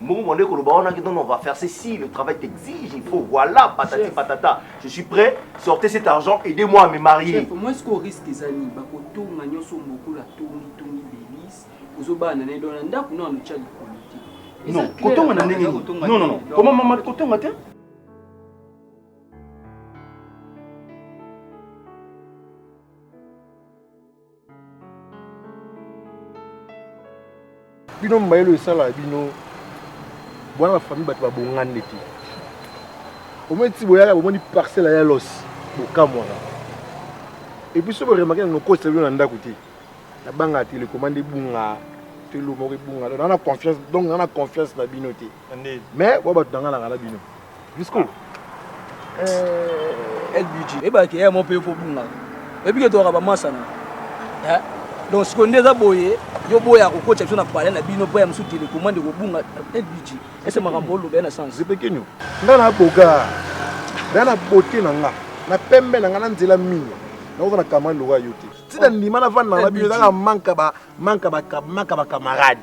Mbongo mwande koloba wana que non non on va faire ceci le travail t'exige il faut voilà patati Chef. patata je suis prêt sortez cet argent aidez moi à me marier Chef, moi sikoyo risque eza nini bakotonga nyonso mbokula tongi tongi belise ozobala na nayedo na ndako nao notya likolo te Eza non clair, kotonga na ndenge eza nini kotonga non non te. non Donc, comment mama kotonga te bino mayele oyo esala bino bwana bafamille bato babongani nde te omoni ti boyaka bomoni parcelle ya los bokamwana epuis so boremake na nokotisa bino na ndako te nabanga telecommande ebunga telo moko ebunga donc na confiance donc na confiance na bino te mais bwa bato nanganaka na bino Jusqu'où euh, LBG. Et eh bah, qu'il y a mon pays pour Bunga. Et puis, il y a un massana. Hein? Donc, ce qu'on est à boyer, yo boya kokocha biso na palais na bino boya mosusu telecommande ekobunga lbg ese makambo oloba ye na sans zepekenyo nga na boga nga na bote na nga na pembe na nga na nzela mingi nakoza na kamani lokola yo te ntina ndima navanda na bino ezaka manka bacamarade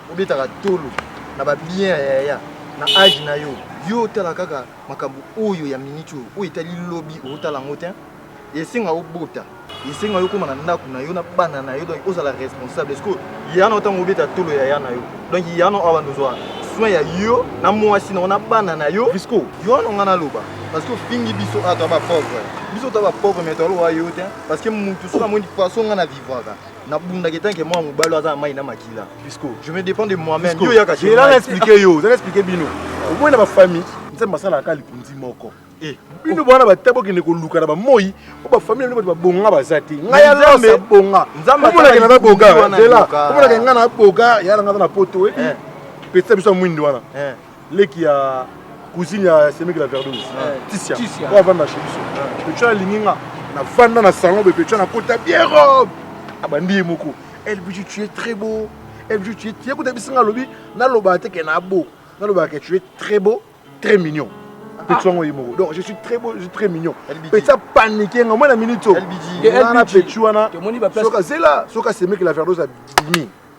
obetaka tolo na ba bien ya yaya na age na yo yo otala kaka makambo oyo ya minute oyo oyo etali lobi otala yango te esenga obota esenga yo okoma na ndako na yo na bana na yo donc ozala responsable eske yana otango obeta tolo ya ya na yo donc yana awa ndozwa soin ya yo na mwasi na yo na bana na yo risco yo wana nga naloba parce que ofingi biso ato ya bapauvre biso ta bapauvre me toloba yo te parce que mutu soki amoni façon nga na vivaka na bunda ke tanke mwa mobali aza na mai na makila pisco je me dépend de moi-même yo yaka chez moi expliquer yo zala expliquer bino oboyi na ba famille nzambe asalaka kaka lipunzi moko eh, bino bwana bata bokende koluka na bamoi po bafamile bino bato babonga baza te ngai alose abonga omonake na naboga zela omonake ngai na boga yala ngai aza na poto oyebi eh. petisa biso ya mwindi wana eh. leki ya cousine ya semeki la verdose tisia oyo avanda chez biso pecho alingi nga navanda na salon boye pecho nakota bien robe abandi ye moko elbiju tu es très beau elbiju tu es ye kuta bisinga alobi nalobaka te ke na beau nalobaka ke tu es très beau très mignon petit wango ye moko donc je suis très beau je suis très mignon petit apanique nga mwana minute oyo wana petit wana soka zela soka semeki la verdose abimi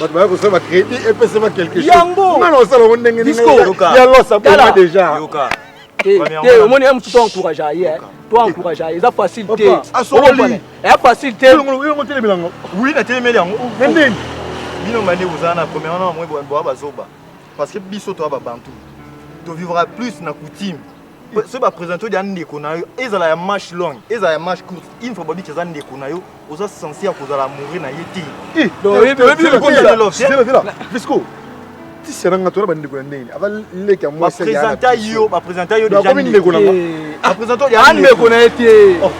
bato baya kosala bacrédit epesema quelque chosengana osala ngo ndenge ya losa boma déjà te omoni ye mosusu encourage ye to encourage ye eza facile te eza facile te otelemela yango wi natelemeli yango nini bino bande bozala na première na bamwe boa bazoba parce que biso toya babantu tovivra plus na coutume soki bapresente odi ya ndeko na yo ezala ya marche longue ezala ya marche courte une fois babi eza ndeko na yo oza sense ya kozala amoureux na ye tevisco tisela nga tona bandeko ya ndenge aza leki ya mwasibapresente yo bapresente yo dejakomi ndeko na nga bapresente odi ya ndeko na ye te oh,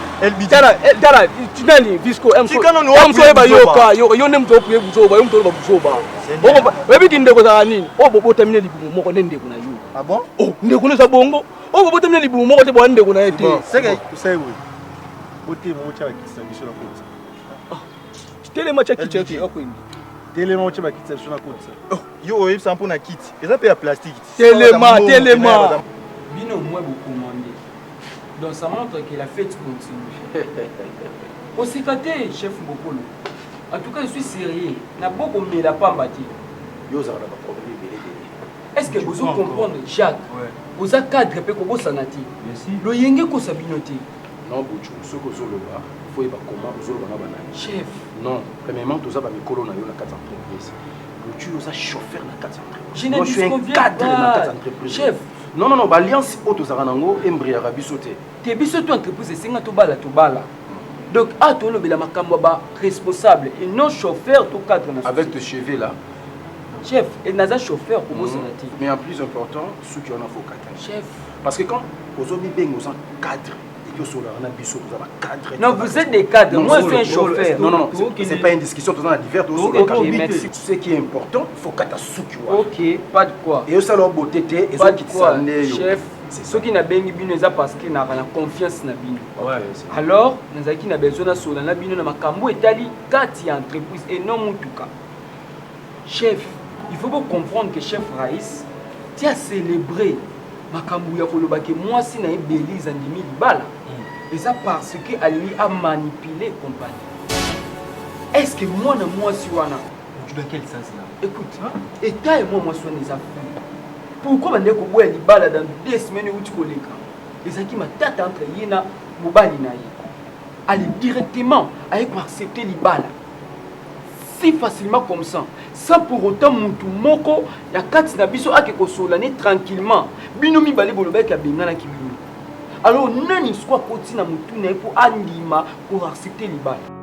tala tinani viscoamsoyeba yoka yo nde moto opuye buzoba yo moto oloba buzoba oyebi kindeko ezala nini oyo bobotamine libumu moko nde ndeko na yo Ah bon? Oh, ndeko eza bongo. Oh, bobo temne libu moko te bwa ndeko na ye te. Seke, usai we. Bote mo cha kitsa biso na kotsa. Ah. Tele ma cha kitsa ki akwindi. Tele ma cha kitsa biso na kotsa. Oh, yo oyib sa mpona kiti. Eza pe ya plastique. Tele ma, tele ma. Bino mwe bo commandé. Donc ça montre que la fête continue. Osika te chef Mbokolo. En tout cas, je suis sérieux. Na boko mela pamba te. Yo za na ba problème est ce que bozo comprendre jacques oza cadre mpe kobosana te loyenge ekosa bino te non bucu soki ozoloba fo yeba koma ozoloba na banani chef non premièrement toza bamikolo na yo na kati ya entreprise bucu oza chauffeur na kati ya entreprisecadre na kati ya entreprise chef non non non baalliance oyo tozalaka nango embriaka biso te te biso to entreprise esenga tobala tobala donc a ah, tolobela makambo ya baresponsable et non chauffeur to cadre na avec te cheve là chef et naza chauffeur kobosana mm. te mais en plus important suki wana faut kata chef parce que quand ozobi benga oza cadre Non, vous êtes des cadres. Non, Moi, je suis un chauffeur. Non, non, c'est pas une discussion. Tout le monde a divers. Okay, merci. Ce qui est important, il faut que tu souki. Ok, pas de quoi. Et ça, leur beauté, et ça, qui Chef, soki nabengi bino eza parce que naka na confiance na bino alors nazalaki na besoin nasola na bino na makambo etali kati ya entreprise et non motuka Chef, il faut ko comprendre que chef Raïs ti a célébrer makambo ya koloba ke mwasi na ye Belize andimi libala hmm. eza parce que alingi a manipuler compagnie. Est-ce que mwana mwasi wana tu dois quel sens là? Écoute, hein? état et moi mwasi wana eza fou. Pourquoi bande koboya libala dans deux semaines uti koleka? Ezaki matata entre ye na mobali na ye. Ali directement aye ko accepter libala. si facilement comme ça sans pour autant mutu moko na kati na biso ake kosolola ne tranquillement bino mibale bolobaki abenganaki bino alors nani siko akoti na motu na ye mpo andima koaccepte libala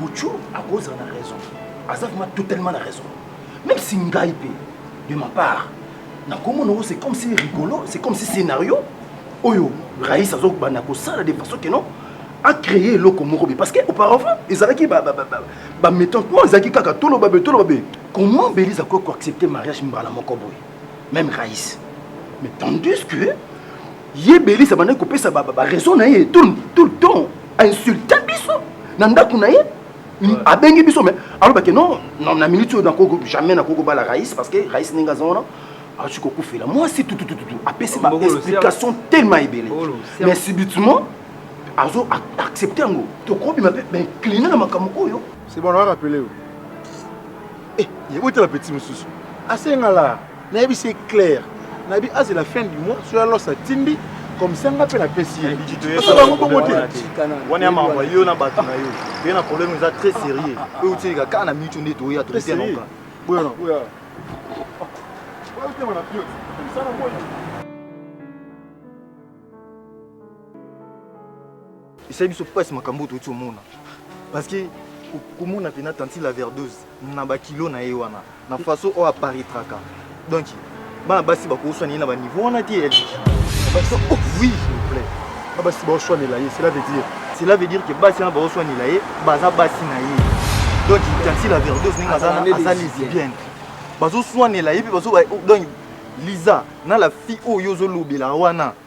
Buchu akozala na raison aza vraiment totalement na raison même si ngai mpe de ma part nakomona yango c'est comme si rigolo c'est comme si scénario oyo rais azobanda kosala de façon que non acréer eloko moko be parce que auparavant ezalaki bamétentement ezalaki kaka toloba be toloba be comment belise akoki koaccepte mariage mbala moko boye même rais mais tandis que ye belise abandaki kopesa baraison na ye tout le temps insulta biso na ndako na ye abengi biso me alobake non na minute oyo jamais nakoki kobala rais parce que rais ndenge aza wana akoki kokufela mwasi tutututu apesi baexplication tellement ebele mais subitement azo accepte yango tokobima mpe baincline na makambo oyo sebona arapele yo eh, ye otala peti mosusu asengala nayebisi ye claire nayebi azela fin du mois soki alos atindi comme ça nga mpe napesi ye osa bango bongo te wana ya makambo yo na bato na yo oye na problème eza très sérieux oyo otilika kaka na minute nde toya totenaoka boyana boya otema na pio msana moyi esali biso mpasi makambo oyo touti omona parceke komona mpena tanti la verdose na bakilo na ye wana na façon oyo aparitraka donc bana basi bakoswana ye na baniveau wana te eliki oh, oui na basi baoswanela ye cela veut dire cela veut dire que basi wana baoswanela ye baza basi na ye donc tanti la verdose ndenge aza lesbienne bazoswanela ye mpe donc liza na la fille oyo ozolobela wana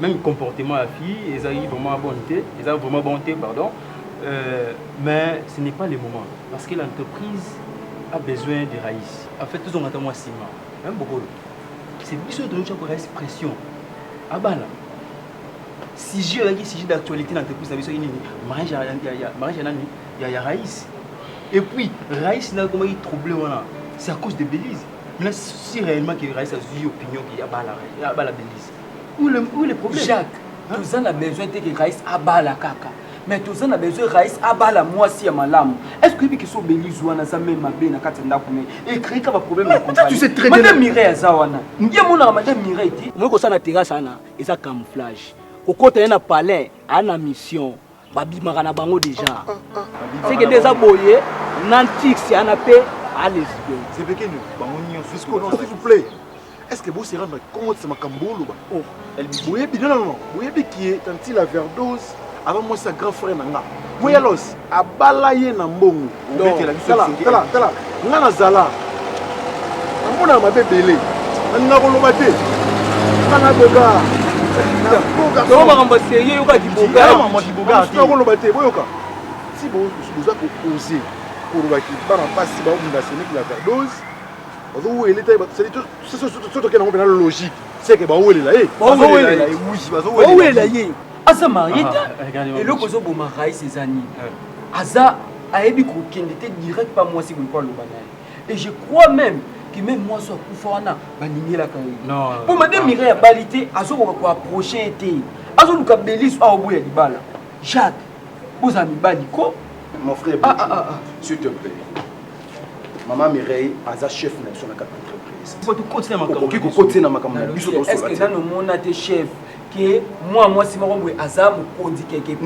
meme comportement ya fille ezalaki vraiment bonne te eza vraiment bon te pardon euh, mais ce n'est pas le moment parce que l'entreprise a besoin de raïs en fait tozonga ta mwa nsima meme bokolo c'est biso toyokya ko raïs pression abana sujet oyaki sujet d'actualité na entreprise na biso ye nini mariage ya nani ya raïs et puis raïs na ekomaki trouble wana c'est à cause de belize mais si réellement que raïs azwi opinion ke abala belize Où le, où le problème Jacques, hein? toza na besoin te que Raïs abala kaka. Mais toza na besoin Raïs abala mwasi ya malamu. Est-ce que oyebi kiso Belize wana aza meme mabe na kati ya ndako na ye? Et créer kaka problème na compagnie. Tu sais très bien. Madame Mireille aza wana. Ye monaka Madame Mireille te. Omoki kosala na terrasse wana eza camouflage. Kokota ye na palais, ana mission. babimaka na bango deja seke nde eza boye na ntix yana mpe alesbe zebekeni bango nyonso s'il vous plaît est ce que bosi erendre compte se makambo boloba oh. boyebi non non boyebi kie tantila verdose aba mwasi ya grand frère na nga boyalos abala ye na mbongo tala nga nazala namonaka mabe ebele nalinga koloba te nga naboka makambo serie yoka kibokakoloba te boyoka si boza koose koloba ki bana mpasi baobunda seneki la verdose bazowele te soki tokenda ngo mpena logique seke bawelela ye bawelela ye aza marie te eloko ozoboma rais eza nini aza ayebi kokende te direct pa mwasi boye mpo aloba na ye et je crois même que même mwasi akufa wana baningelaka ye mpo made mire abali te azokoka koaproche ye te azoluka belis awa boya libala jacques boza mibali ko mon frère ah, ah, ah, ah. s'il te plaît maman mireille aza chef na biso na kati entreprise okoki kokotisa na makambo na biso tosola te ke mwa mwasi moko boye aza mokonzi quelque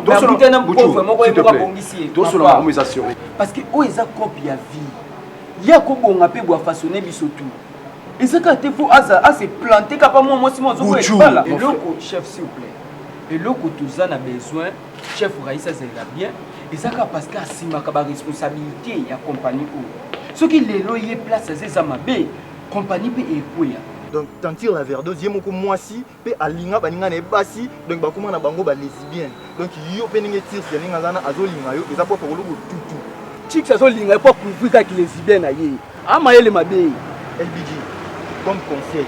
partnakuta na pauvre moko ye moko abongisi ye parce que oyo eza cope ya vie ye akobonga mpe bwa façonne biso tout eza kaka te fo aza ase plante kapa mwa mwasi mwa azokoyebala eloko chef s'il vous plaît eloko toza na besoin chef raïs azalela bien eza kaka parce que asimaka baresponsabilité ya compagnie oyo soki lelo ye place aza eza mabe compagnie pe ekweya. Donc tantine la verdose ye moko mwasi pe alinga baninga na ye basi donc bakoma na bango ba lesibienne donc yo pe ndenge tirce ndenge aza na azolinga yo eza po apakolo botutu Chicks azolinga ye po akouvrir kaka kilesibienne na ye a mayele mabe. LBG comme conseil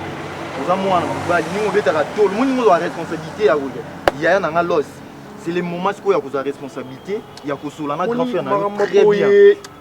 oza mwana mobali ndenge obetaka tolo omoni ndenge ozwa responsabilite ya koya yaya na nga loss c'est le moment sikoyo ya kozwa responsabilite ya kosola na grand frère na yo très bien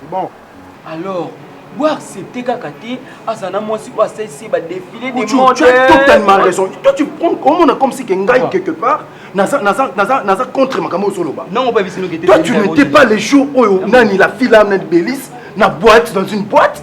c'est bon alors boaccepte kaka te azala na mwasi oyo asalisi ye badefile de mode totalement raison toi tu prends omona comme si ke ngai ah. quelque part naza naza naza naza contre makambo oyo ozoloba non oba bisino ke toi tu n'étais pas les jours oyo nani la fille là nani belice na boîte dans une boîte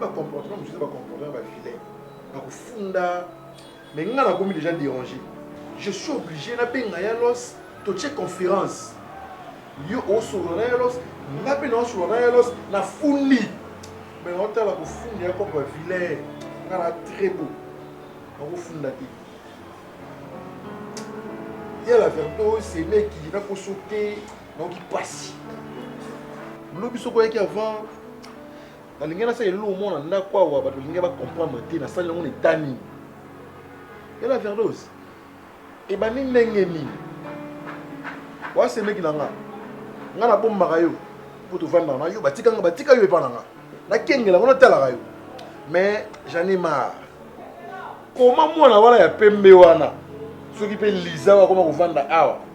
ba comportement mosusu ba comportement ba vilain bakofunda mais nga nakomi déjà dérangé je suis obligé nabenga ya los totie conférence yo osolola na ya los nga mpe naosolola na ya los nafundi mais naotala kofunda ya koko ba vilain nga na très beau nakofunda te ya la verite oyo semeki nakoso te nayoki mpasi lobi soko oyaki avant nalingi nasala elelo omona ndako awa bato balingi bacomprendre te nasali yango na eta nini ela verdose ebandi ndenge nini wasemeki na nga nga nabombaka yo mpo tovandaka na yo batika nga batika yo epa na nga nakengela ngo natalaka yo mais j'en ai marre koma mwana wana ya pembe wana soki mpe liza oyo akoma kovanda awa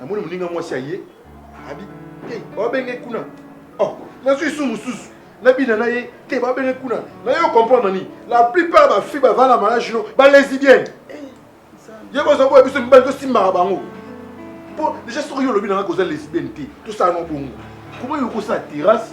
namoni moninga mwasi aye abi te babenge kuna oh, nazwi su mosusu nabina na ye te babenge kuna na yo comprendre nini la plupart bafi bavanda malage no balesibienne eh, ye boza boya biso mibali tosimbaka bango mpo deja soki yo olobi nanga koza lesibienne te tosala no bongo koma yo kosala terrasse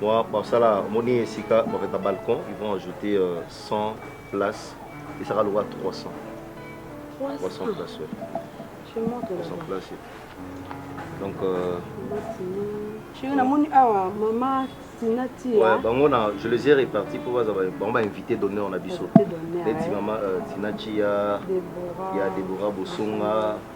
Moi, basala moni esika bakata balcon, ils vont ajouter euh, 100 places et ça va lokola 300. 300 places, ouais. Je montre 300 là-bas. places. et- Donc euh, Chérie, na moni awa maman Tina tia. ouais, bango na je les ai répartis pour baza ba- bango ba invité d'honneur na biso. Invité d'honneur, Neti ouais. maman euh, Tina Chia, Deborah. ya Deborah Bosonga,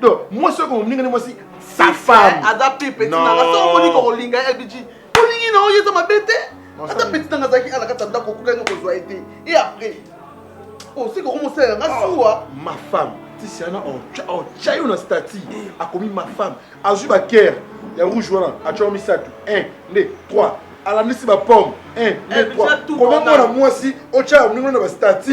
donc mwasi oyo moninga nde mwasi sa femme aza pe petit na nga soko moni ko linga ya biji olingi na oyo eza mabe te ata petit na nga azalaki ala kata ndako okuka ngo kozwa ye te et après oh c'est ko mo sala nga ah, suwa ma femme tisiana otya yo na stati akomi ma femme azwi bakere ya rouge wana atyango misato 1 2 3 alandisi bapomme 1 2 3 komemona mwasi otya yo moningo na bastati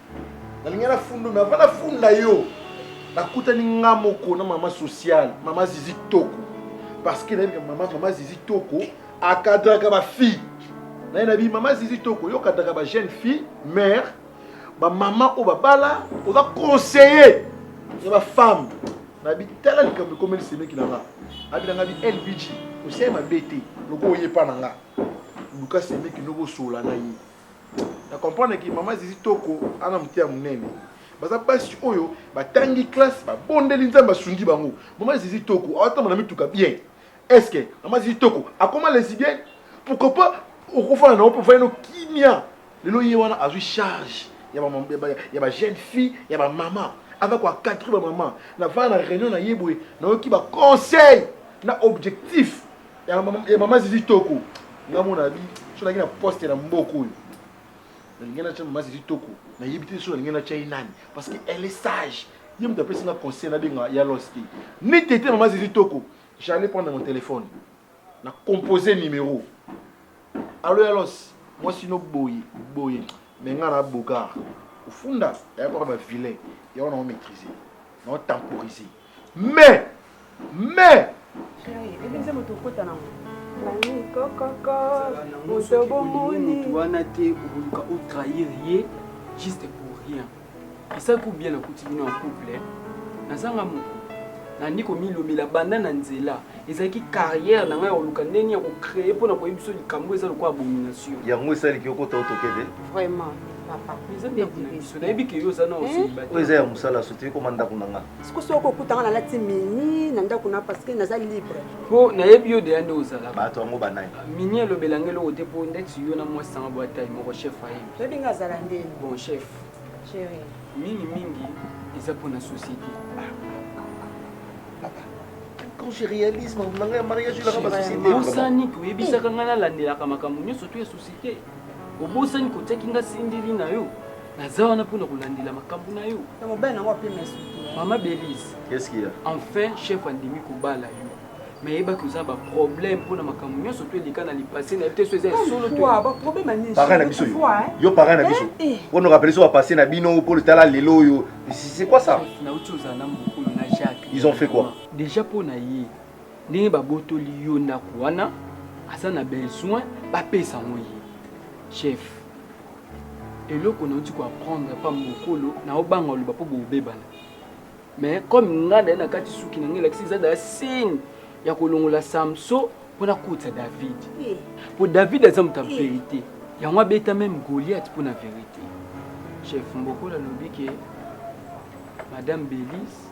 nalingi na fundu mais avant na funda yo nakutani nga moko na mama sociale mama zizi toko parce que nayebi mama mama zizi toko akadraka ba fille naye na bi mama zizi toko yo okadraka ba jeune fille mère ba mama oyo babala oza conseiller ya ba femme na bi tala likambo ekomeli semeki na nga abi na nga bi lbg oseye mabe te loko oyepa na nga luka semeki noko osola na ye na comprendre ki mama zizi toko ana moteya monene baza basi oyo batangi classe babondeli nzambe asungi bango mama zizi toko awatambola mituka bien estce mama zizi toko akoma lesibienne pourquoi pas okofana na ope ofani no kimia lelo ye wana azwi charge ya bajeune fille ya bamama aza koacadre bamama navana na réunion na ye boye nayoki baconseil na objectif Ya eh, mama zizi toko nga mona bi so nalingi na poste na mboka oyo nalingi natya mama zizi toko nayebi te so nalingi natya ye nani parce que elle est sage ye moto apesi nga conseil nabenga ya los te ni tete mama zizi toko j'allais prendre mon téléphone na compose numéro alo ya los mwasi no boye boye me nga na bogard ofunda yakoka bavilain yango na omaîtrise na otemporise Mais, mais. wana te okoluka otrahir ye juste pour rien esali ko bien nakuti bino en couple nazanga moko nandi komilobela banda na nzela ezalaki carrière na ngai ya koluka ndenge ya kocreye mpo na koyebi biso likambo eza lokola abomination yango esaliki okota otoke te vraiment papa eza ndako na biso nayebi ke yo oza na oyo eza ya mosala soki ekoma ndako na ngai siko soki okutanga nalati mini na ndako na parce que naza libre mpo nayebi yo deya nde ozala bato yango banani ah, mini elobela nge eloko te mpo ndeti yo na mwasi sanga bwa tai moko chef ayebi oyebi nga azala nde bon chef chéri mingi mingi eza mpo na société papa quand je réalise makambo na ngai ya mariage elaka basociété osani koyebisaka ngai nalandelaka makambo nyonso to ya société obosani kotiaki nga sindili na yo naza wana mpo na kolandela makambo na yo na mobali nango apema esuki mama belise Qu'est-ce qu'il y a? enfin chef andimi kobala yo mais yebaki oza baproblème mpo na makambo nyonso to eleka na lipase na yo te so eza ya solo to ya- baproblème anini Parrain na biso yo. Yo parrain na biso. Eh, eh. Wana okapele so bapasse na bino mpo tala lelo oyo. C'est c'est quoi ça? Chef, nauti ozala na mokolo na jacques Ils ont fait quoi? déjà mpo na ye Ndenge ba botoli yo ndaku wana aza na besoin ba pesa ngo ye. Chef eloko na uti ko apprendre pa mokolo na obanga oloba po bobebana. Mais comme nga na na kati suki na ngai lakisi eza da signe ya kolongola Samso po na kotsa David. Eh. Po David aza moto ya eh. verite. Yango abeta meme Goliath po na verite. Chef Mbokola lobi ke Madame Belize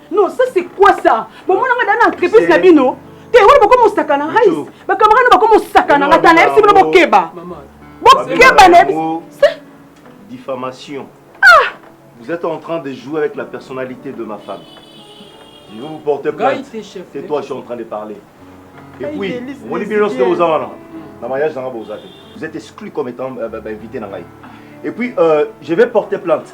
Non, ça c'est quoi ça Bomona nga dana entreprise na bino te wana bakoma osaka na rais bakamara na bakoma osaka na nga ta nayebisi bino bokeba bokeba nayebisi diffamation ah! vous êtes en train de jouer avec la personnalité de ma femme je vais vous porter plainte c'est toi je suis en train de parler et puis omoni bino nyonso te boza wana na mariage nanga boza te vous êtes exclu comme étant euh, bah, bah, invité na ngai et puis euh, je vais porter plainte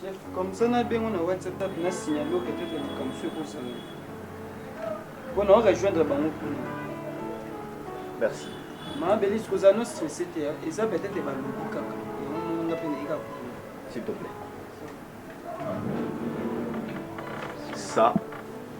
Chef, comme ça na bengo na WhatsApp na signaler au peut-être le kamswe ko sala. Bon, on rejoindre bango kuna. Merci. Ma belle, ce que ça nous stressé te, et ça peut-être ba lobi kaka. On nga pe na ika. S'il te plaît. Ça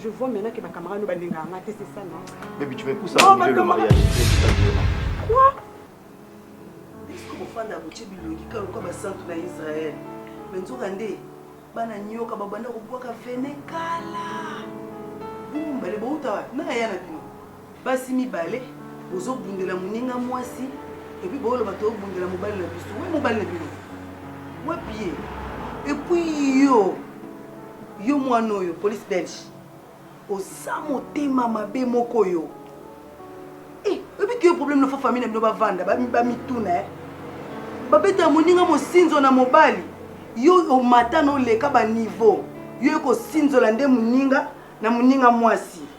Je vois maintenant que ma camarade nous balinga nga te c'est ça non Baby tu vas pousser à annuler le mariage. Quoi Est-ce que mofanda akotie bilongi kaka lokola basantu na Israël me nzoka nde bana nyoka babanda kobwaka vene kala bombale bouta wapi na ya na bino Basi mibale bozo bundela muninga mwasi et puis bo loba to bundela mobali na biso. Oui mobali na bino. Wapi ye? Et puis yo yo mwana oyo police belge oza motema mabe moko yo eh, oyebi ke yo problème nofa famille na bino bavanda bamituna eh. babeta ya moninga mosinzo na mobali yo omata na oleka baniveau yo ekosinzola nde moninga na moninga mwasi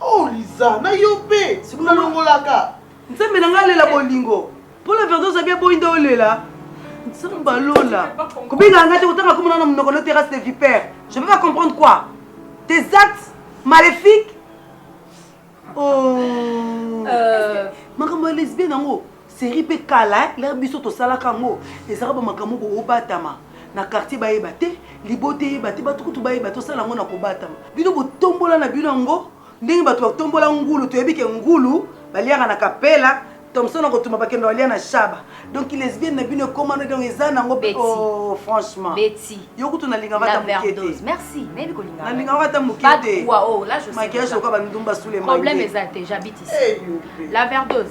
Oh Liza, na yo pe, sikoyo olongolaka. Nzambe na ngai alela bolingo. Pour la verite oza bien boyi nde olela. Nzambe alola. Kobenga ngai te kotanga komona na monoko no terrasse de vipère. Je peux pas comprendre quoi? Tes actes maléfiques? Oh. Euh, makambo ya lesbienne yango. Serie pe kala hein lere biso tosalaka yango ezaka ba makambo bo batama na quartier bayeba te libota eyeba te batu kutu bayeba te osala yango na kobatama bino botombola na bino yango ndenge batu batombola ngulu toyebi ke ngulu baliaka na kapela Thomson akotumba bakenda balia na shaba donc lesbienne na bino ekoma no donc eza nango pe Betty. oh franchement Betty. yo kutu nalinga La vata muke te verdouse. Merci. Nayebi kolinga. nalinga vata muke Pas de te poids, oh, là, je sais maquillage déjà. lokola bandumba sous les Problème mains eza te, j'habite ici. La verdouse.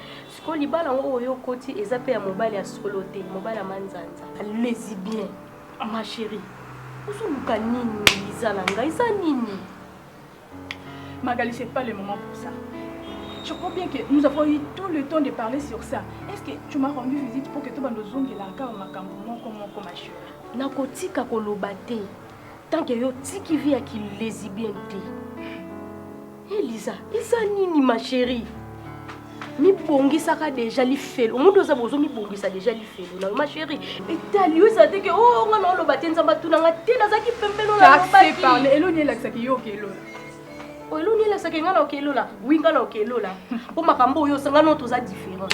Sikoyo libala yango oyo okoti eza pe ya mobali ya solo te, mobali ya manzanza. Lesibien, ma cherie, ozoluka nini Liza na ngai, eza nini? Magali, c'est pas le moment pour ça. Je crois bien que nous avons eu tout le temps de parler sur ça. Est-ce que tu m'as rendu visite pour que tout le monde zongue là encore ma cambo mon comment comment chérie? Nakotika koloba te. Tant que yo tiki vie ya ki lesbienne te. Elisa, eza nini ma chérie? mibongisaka deja lifelo omuntu oza bozo mibongisa deja lifelo na ma chérie etali yo ezala te ke o oh, nga na oloba te nzambe atuna nga te nazalaki pembeno na lobaki eloni elakisaki yo okelona oh, eloni elakisaki nga na okelola wi nga na okelola mpo makambo oyo osanga no toza différent